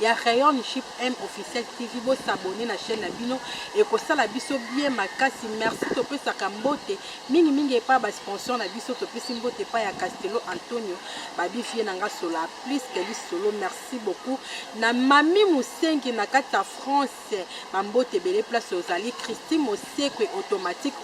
ya rayon ship M officiel TV bo s'abonner na chaîne na bino ekosala biso bien makasi merci topesaka mbote mingi mingi epa ba sponsor na biso topesi mbote epa ya Castello Antonio babi vie na nga sola plus que lisolo merci beaucoup na mami musengi na kati ya France ba mbote ebele place ozali Christi Mosekwe automatique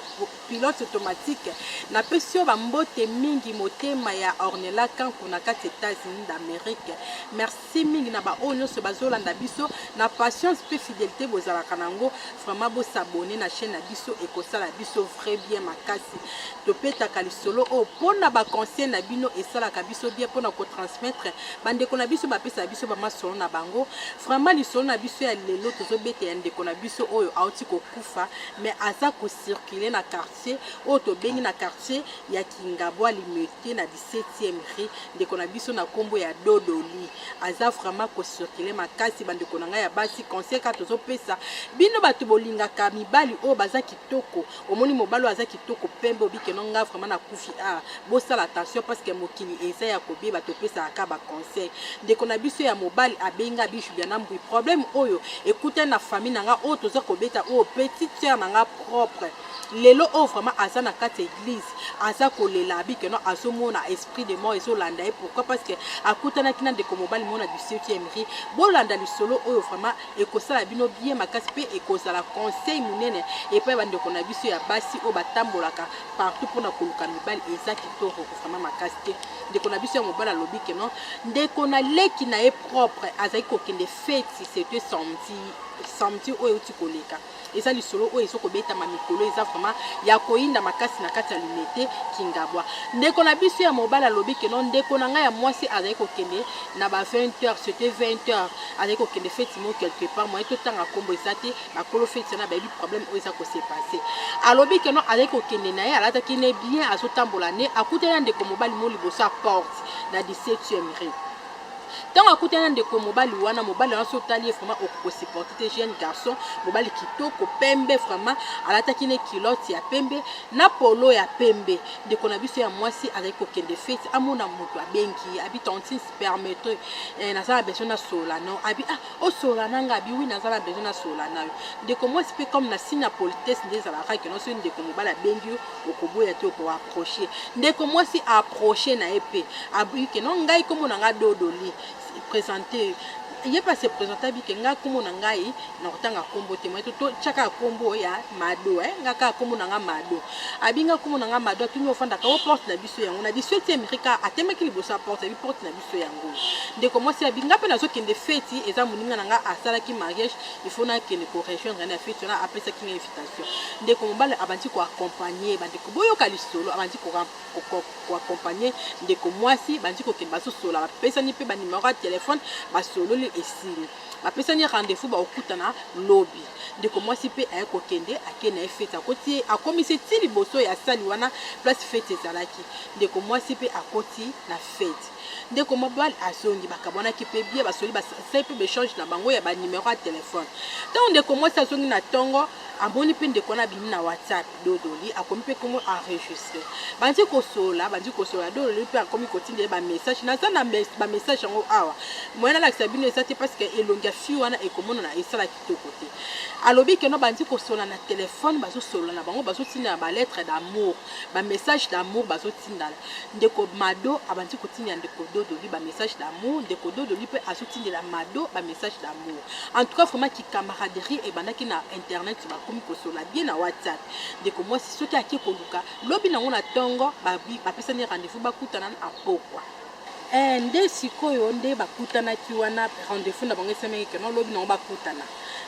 pilote automatique na pesi yo ba mbote mingi motema ya Ornella Kanku na kati États-Unis d'Amérique merci Merci mingi na ba oyo nyonso bazolanda biso na patience mpe fidelité bozalaka nango vraiment bo s'abonner na chaîne na biso ekosala biso vrai bien makasi topetaka lisolo oyo mpona ba conseil na bino esalaka biso bien mpona kotransmettre bandeko na biso bapesaka biso bamasolo na bango vraiment lisolo na biso ya lelo tozobeta ya ndeko na biso oyo auti kokufa mais aza kocircule na quartier oyo tobengi na quartier ya kingabwa limete na septième rue ndeko na biso na kombo ya dodoli aza vraiment ko circuler makasi bandeko na ngai ya basi conseil kaka tozopesa bino bato bolingaka mibali oyo baza kitoko omoni mobali oyo aza kitoko pembe obike no nga vraiment na kufi a bosala attention parce que mokili eza ya kobeba topesaka ka ba conseil ndeko na biso ya mobali abenga bishu bya na mbui problème oyo ekutani na famille na nga oyo toza kobeta oyo petite sœur na nga propre lelo oyo vraiment aza na kati ya eglise aza kolela abi que non azomona esprit de mort ezolanda ye pourquoi parce que akutanaki na ndeko mobali mona du 7e ri bolanda lisolo oyo vraiment ekosala bino bien makasi mpe ekozala conseil monene epai bandeko na biso ya basi oyo batambolaka partout mpona koluka mibali eza kitoko vraiment makasi te ndeko na biso ya mobali alobi que non ndeko na leki na ye propre azali kokende feti c'était samedi samedi oyo euti koleka Eza lisolo oyo ezo kobetama mikolo eza vraiment ya koyinda makasi na kati ya Limete Kingabwa. Ndeko na biso ya mobali alobi que non ndeko na ngai ya mwasi azali kokende na ba 20 heures, c'était 20 heures, azali kokende feti mo quelque part moyen totanga kombo eza te, bakolo feti wana bayebi problème oyo eza ko se passer. Alobi que non azali kokende na ye alataki ne bien azotambola ne akutani na ndeko mobali mo liboso ya porte na 17e rue. ntango akutani na ndeko mobali wana mobali wana so otali ye vraiment okoki kosupporte te jeune garçon mobali kitoko pembe vraiment alataki ne kilote ya pembe na polo ya pembe ndeko na biso ya mwasi azali kokende fete amona moto abengi ye abi tantine permettre eh, naza na besoin nasolola nao abi ah osolola na nga abi wi naza na besoin nasolola na yo ndeko mwasi mpe comme na signe ya politesse nde ezalaka keno soki ndeko mobali abengi yo okoboya te oko approche ndeko mwasi approche na ye mpe abuyi ke non ngai nkombo na ngai dodoli présente ye mpe ase présente abi ke ngai nkombo na ngai na kotanga nkombo te mai totyaka nkombo ya mado eh? ngai kaka nkombo na ngai mado abi ngai nkombo na ngai mado atuni ofandaka o porte na biso yango na 18e rika atemaki liboso ya porte abi porte na biso to yango ndeko mwasi abi nga mpe nazokende feti eza moninga na nga asalaki mariage ifo nakende korejoindre na feti wana apesaki nga invitation ndeko mobali abandi koaccompagne bandeko boyoka lisolo abandi koaccompagne ndeko mwasi bandi kokende bazosola bapesani mpe banimero ya telefone basololi esili bapesani rendez-vous bakokutana lobi ndeko mwasi mpe aye kokende ake na ye feti akoti ye akomisi ti liboso ya sali wana place feti ezalaki ndeko mwasi mpe akoti na feti ndeko mobali azongi bakabwanaki mpe bia basoli basali mpe baechange na bango ya banimero ya telefone ntango ndeko mwasi azongi na ntongo amoni mpe ndeko wana abimi na whatsapp dodoli akomi mpe komo enregistre bandi kosolola bandi kosolola dodoli mpe akomi kotinda ye bamessage naza na bamessage yango awa moyen nalakisa bino eza te parce que elongi ya fille wana ekomonana esalaki kitoko te alobi ke no bandi kosolola na telefone bazosolola na bango bazotindana baletre d'amour bamessage d'amour bazotindana ndeko mado abandi kotindela ndeko dodoli bamessage d'amour ndeko dodoli mpe azotindela mado bamessage d'amour en tout cas vraiment kikamaraderie ebandaki na internet bakomi kosolola bien na whatsapp ndeko mwasi soki ake koluka lobi nango na ntongo bapesani rendez-vous bakutana na pokwa Eh nde sikoyo nde bakutanaki wana rendez-vous na bango esemeki ke no lobi nango bakutana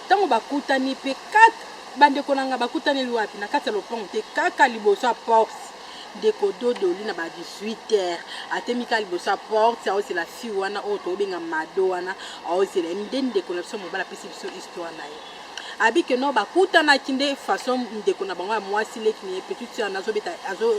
ntango bakutani mpe kat bandeko na nga bakutaneli wapi na kati ya lopango te kaka liboso ya porte ndeko dodoli na ba 18 heures atemi kaka liboso ya porte aozela fille wana oyo tobenga mado wana aozela ye nde ndeko na biso mobali apesi biso histoire na ye abi que non bakutanaki nde façon ndeko na bango ya mwasi leki na ye petite sœur nazobeta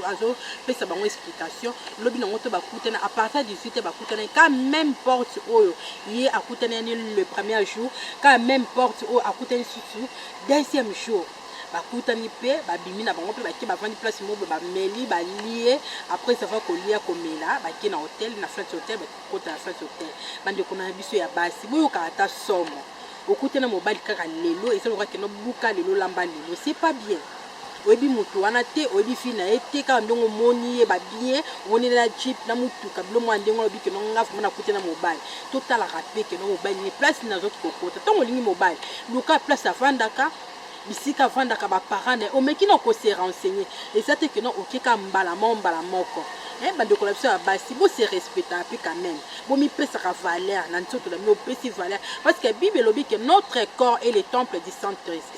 azopesa bango explication lobi nango to bakutani à partir 18 te bakutanaki ka même porte oyo ye akutani yani le premier jour ka même porte oyo akutani susu deuxième jour bakutani mpe babimi na bango mpe bake bavandi place moko bameli balie après avoir kolia komela bake na hotel na flat hotel bakokota na flat hotel bandeko na biso ya basi boyokaka ata somo Okuti na mobali kaka lelo eza lokola kende obuka lelo olamba lelo c'est pas bien. Oyebi mutu wana te, oyebi fille na ye te, kaka ndenge omoni ye ba bien, omoni ye na jeep na mutuka biloko moko ya ndenge wana olobi kende nga vraiment nakuti na mobali. Totalaka pe kende mobali nini place nini azwaki kokota. Tango olingi mobali luka place afandaka, bisika avandaka ba parents naye omeki na ko se renseigner eza te que non oke ka mbala moko mbala moko eh bandeko na biso ya basi bo se respectaka pe quand même bo mipesaka valeur na nzoto na bino opesi valeur parce que bible elobi que notre corps est le temple du saint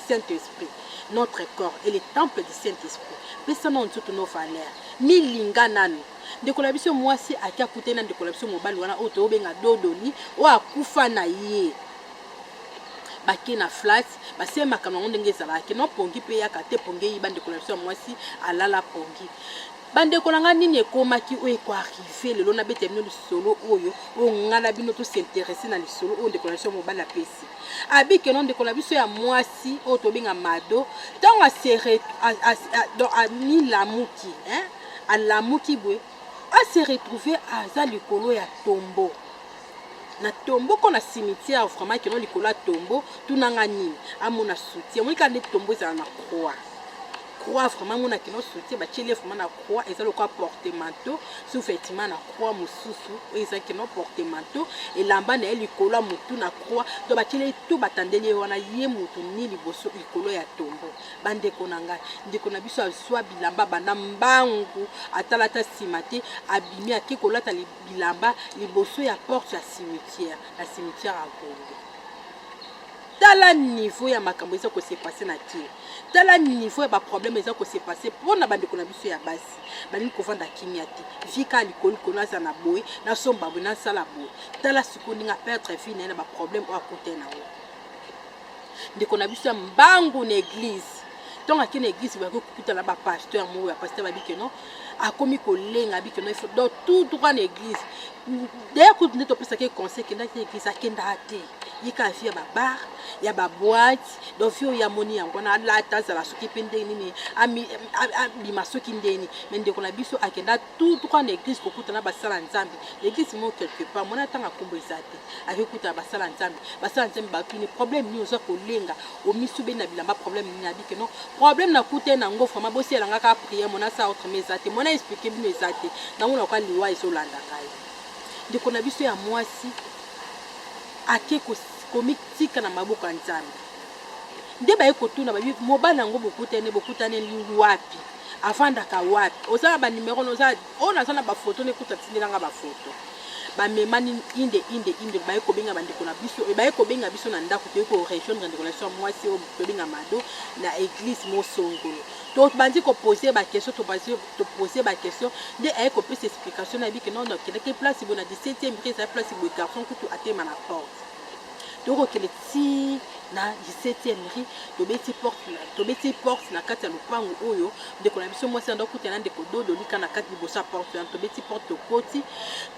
saint esprit notre corps est le temple du saint esprit pesa na nzoto no valeur milinga nanu ndeko na biso mwasi ake akutani na ndeko na biso mobali wana oyo toyobenga dodoli oyo akufa na ye bake na flat basema makambo yango ndenge ezalaki no pongi mpe yaka te pongi eyi bandeko na biso ya mwasi alala pongi bandeko na ngai nini ekomaki oyo ekoarrive lelo nabeta bino lisolo oyo oyo ngai na bino tosinterese na lisolo oyo ndeko na biso ya mobali apesi abikeno ndeko na biso ya mwasi oyo tobenga mado ntango amilamuki alamuki boye ase retrouve aza likolo ya tombo na tombo ko na cimetière vraiment ekeno likolo ya tombo tuna nga nini amona soutien omoni kaka nde tombo ezala na croix croix vraiment amona akeno soutien batieli ye vraiment na croix eza lokola portemanteau sous vêtement na croix mosusu oyo eza keno portemanteau elamba na ye likolo ya motu na croix to batieli ye to batandeli ye wana ye motu ni liboso likolo ya tombo bandeko na ngai ndeko na biso azwa bilamba banda mbangu atalata nsima te abimi ake kolata libanda bilamba liboso ya porte ya cimetière na cimetière ya Gombe. Tala niveau ya makambo eza ko se passer na kin. Tala niveau ya ba problème eza ko se passer mpo na bandeko na biso ya basi balingi kovanda kimia te. Vie kaka likolo likolo aza na boye nasomba boye nasala boye. Tala sikoyo ndenge aperdre vie na ye na ba problème oyo akutani na yango. ndeko na biso ya mbangu na eglize ntongo ake na eglize boyaki kokuta na bapasteur moko ya pasteur babi keno akomi kolenga abi keno ifo donc tout droit na eglize daya kutu nde topesaki conseil kendaki na eglize akendaka te ye kaka vie ya babar ya baboite donc vie oyo amoni yango wana alata azala soki mpe ndenge nini abima soki ndeni me ndeko na biso akenda tout droit na eglise kokuta na basala nzambe na eglise moko quelque part mwana ntango akombo eza te ake kuta na basala nzambe basala nzambe batuni problème nini oza kolenga omisu beni na bilamba problème nini abike non problème nakuta ye na yango vraiment bosiyela nga kaka prière mwana asala autrement eza te mwana explike bino eza te nango nakoka liwa ezolanda ngai ndeko na biso ya mwasi ake komitika na maboko ya nzambe nde baye kotuna babi mobali yango bokutani bokutani wapi afandaka wapi oza na banimero na oza oyo naza na bafoto na ekuta atindela nga bafoto bamema nini inde inde inde baye kobenga bandeko na biso e baye kobenga biso na ndako toyei korejoindre ndeko na biso ya mwasi oyo tobenga mado na eglise mosongolo tobandi kopose baquestion topose baquestion nde aye kopesa explication na yebi ke nono akendaki place boye na 17e ri ezali place boye garçon kutu atema na porte tokokende ti na 17e rue tobeti porte tobeti porte na kati ya lopango oyo ndeko na biso mwasi ando kuta na ndeko dodo lika na kati liboso ya porte wana tobeti porte tokoti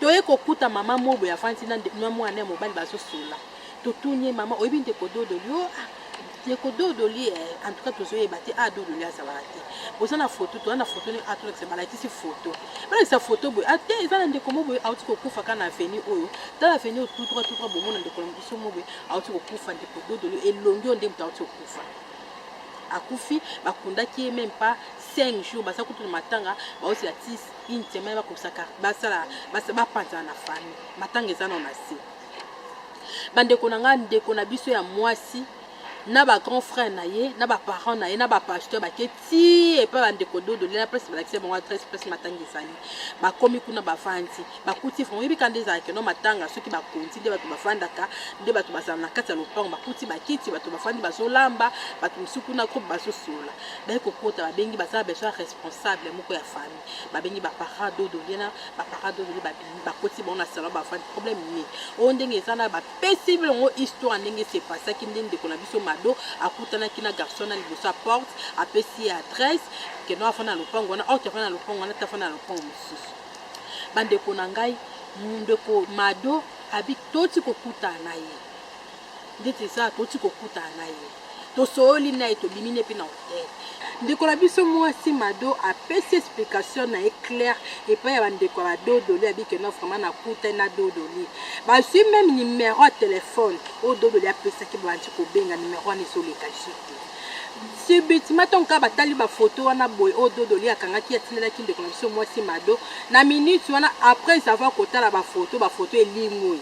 toye kokuta mama mobo ya vanti na mwana ya mobali bazosola totuni ye mama oyebi ndeko dodo yo ah, Ndeko Dodoli eh, en tout cas tozoyeba te ah Dodoli azalaka te. Boza na photo, toza na photo ni atolakisa ah, balakisi photo. Balakisa photo boye ah te eza na ndeko mo boye auti kokufa kaka na avenue oyo. Tala avenue oyo tout droit tout droit bomona ndeko na biso mo boye auti kokufa ndeko Dodoli elongi oyo nde moto auti kokufa. Akufi bakundaki ye même pas 5 jours baza kutu na matanga baosi ya ti une semaine bakobisaka basala bapanzana na famille matanga eza na na se. bandeko na ngai ndeko na biso ya mwasi na ba grand frère na ye na ba parents na ye na ba pasteur bake ti epai bandeko dodo lela place balakisa bango adresse place matanga ezali bakomi kuna bavandi bakuti frango yebi ka nde ezalaka no matanga soki bakonzi nde bato bafandaka nde bato bazala na kati ya lopango bakuti bakiti bato bafandi bazolamba bato mosusu kuna groupe bazosola baye kokota babengi baza besoin responsable moko ya famille babengi baparent dodo lela baparent dodo bakoti bango na salon bafandi problème nini oyo ndenge eza na bapesi longo histoire ndenge se pasaki nde ndeko na biso mado akutanaki na garçon na liboso ya porte apesi ye adresse keno afanda na lopango wana orte afanda na lopango wana te afanda na lopango mosusu bandeko na ngai ndeko mado abi toti kokutana na ye ndeti eza toti kokutana na ye Tosooli naye tobimi ne pe na hotel. Ndeko na biso muasi Mado apesi explication naye claire epai ya ba ndeko ya ba Dodoli abi que non vraiment nakutani na Dodoli. Bazui meme numero ya telephone oyo Dodoli apesaki babandi kobenga numero wana ezoleka jeu te. Subitement tango kaka batali ba photos wana boye oyo Dodoli akangaki atindelaki ndeko na biso muasi Mado, na minute wana après avoir kotala ba photos, ba photos elimui.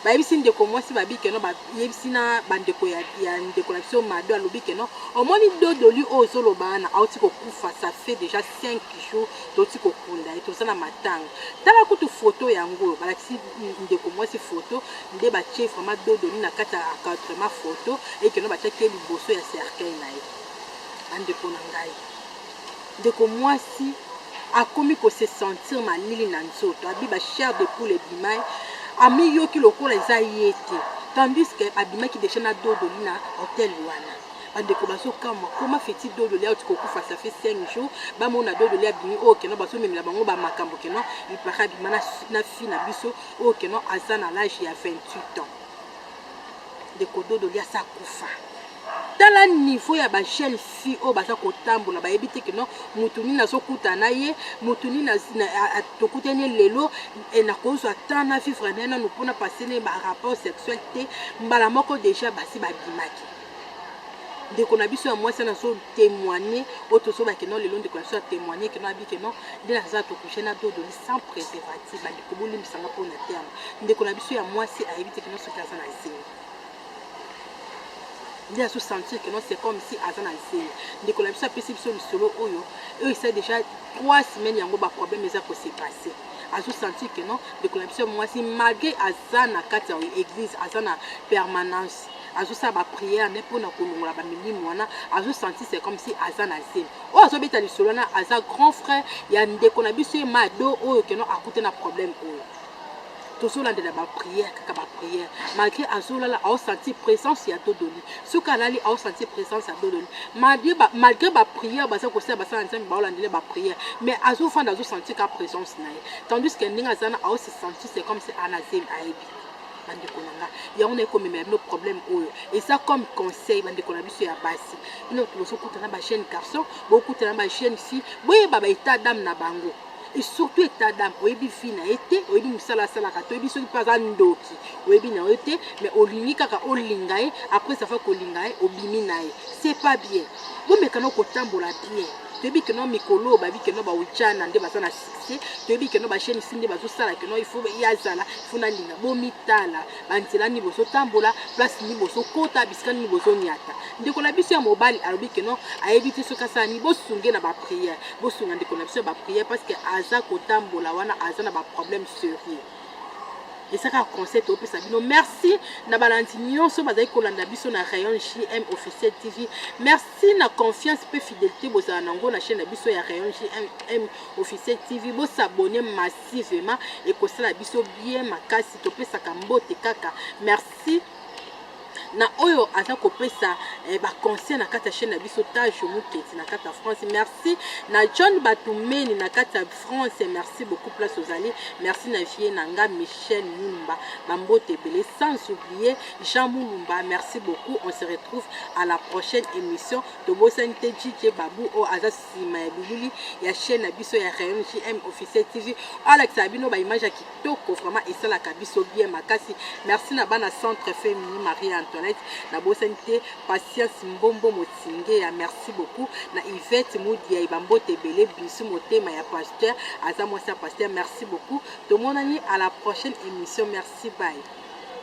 bayebisi ndeko mwasi babi keno bayebisi na bandeko ya, ya ndeko na biso mado alobi keno omoni dodoli oyo ozoloba wana auti kokufa ça fait déjà 5 jours toti kokunda ye toza na matanga tala kutu foto yango oyo balakisi ndeko mwasi foto nde batie vraiment dodoli na kati ya encadrement foto ekeno batiaki ye liboso ya cercueil na ye bandeko na ngai Ndeko muasi akomi ko se sentir malili na nzoto, abi ba chair de poule ebimai, amiyoki lokola eza ye te, tandis que abimaki dejà na dodoli na hotel wana. Ba ndeko bazo kamua comment fait il dodoli auti ko kufa ça fait 5 jours, ba mona dodoli abimi oyo keno bazo memela bango ba makambo keno il parait abima na fille na biso oyo keno aza na l'age ya 28 ans. Ndeko Dodo lia sa kufa. Tala niveau ya ba jeunes filles oyo baza kotambola bayebi te que non mutu nini azokutana na ye mutu nini tokutani ye lelo nakozwa temps na vivre na ye nanu mpo na passe na ye ba rapport sexuel te mbala moko déjà basi babimaki ndeko na biso ya mwasi ana azo témoigne oyo tozobake no lelo ndeko na biso ya témoigne keno abi keno nde naza tokushe na dodo sans préservatif bandeko bolimbisa nga mpo na terme ndeko na biso ya mwasi ayebi te kino soki aza na zemi nde azo sentir que non c'est comme si aza na zemi ndeko na biso apesi biso lisolo oyo oyo esa déjà trois semaines yango baproblème eza ko se passer azo sentir que non ndeko na biso ya mwasi malgré aza na kati ya église aza na permanence azosala bapriere nde mpo na kolongola bamilimo wana azosentir se comme si aza na zemi oyo azobeta lisolo wana aza grand frère ya ndeko na biso ye mado oyo keno akuta na problème oyo tozolandela baprière kaka baprière malgré azolala aosanti présence ya dodoli soki alali aosanti présence ya dodoli malgré baprière baza kosala basala nzambe baolandela baprière mais azofanda azosanti ka présence na ye tandis que ndenge aza na aosi santi c'est comme se anazemi ayebi bandeko na nga yango naye komemela bino problème oyo eza comme conseil bandeko na biso ya basi bino bozokuta na bajeune garçon bokuta na bajeune fille boyeba ba état dame na bango et surtout état dame oyebi vie na ye te oyebi mosala asalaka te oyebi soki mpe aza ndoki oyebi na yo te mais olingi kaka olinga ye après safa kolinga ye obimi na ye c'est pas bien bomekana kotambola bien toyebi keno mikolo oyo babi keno baujana nde baza na te toyebi keno basheni si nde bazosala keno ifo ye azala ifo nalinga bomitala banzela nini bozotambola place nini bozokota bisika nini bozoniata ndeko na biso ya mobali alobi keno ayebi te soki asala nini bosunge na bapriere bosunga ndeko na biso ya bapriere parce que aza kotambola wana aza na baproblème serieux esaka conseil topesa bino merci na balandi nyonso bazali kolanda biso na rayon jm officiel tv merci Tina confiance pe fidelite bozala na ngo na chaine na biso ya Rayon JMM officiel TV bo s'abonner massivement ekosala biso bien makasi topesaka mbote kaka merci na oyo aza kopesa eh, baconseil na kati ya chaine na biso tajo moketi na kati ya france merci na john batumeni na kati ya france merci beaucoup place ozali merci na vie na nga michel mumba bambote ebele sans oublier Jean Mulumba merci beaucoup on se retrouve à la prochaine émission tobosani te DJ Babu oyo aza nsima ya bilili ya chaîne na biso ya Rayon JM officiel TV alakisa bino ba image ya kitoko vraiment esalaka biso bien makasi merci na bana centre Femini Marie Antoinette nabosani te Patience Mbombo Motingeya merci beaucoup na Yvette Mudia ebambote ebele bisu motema ya pasteur aza mwasi ya pasteur merci beaucoup tomonani à la prochaine émission merci bye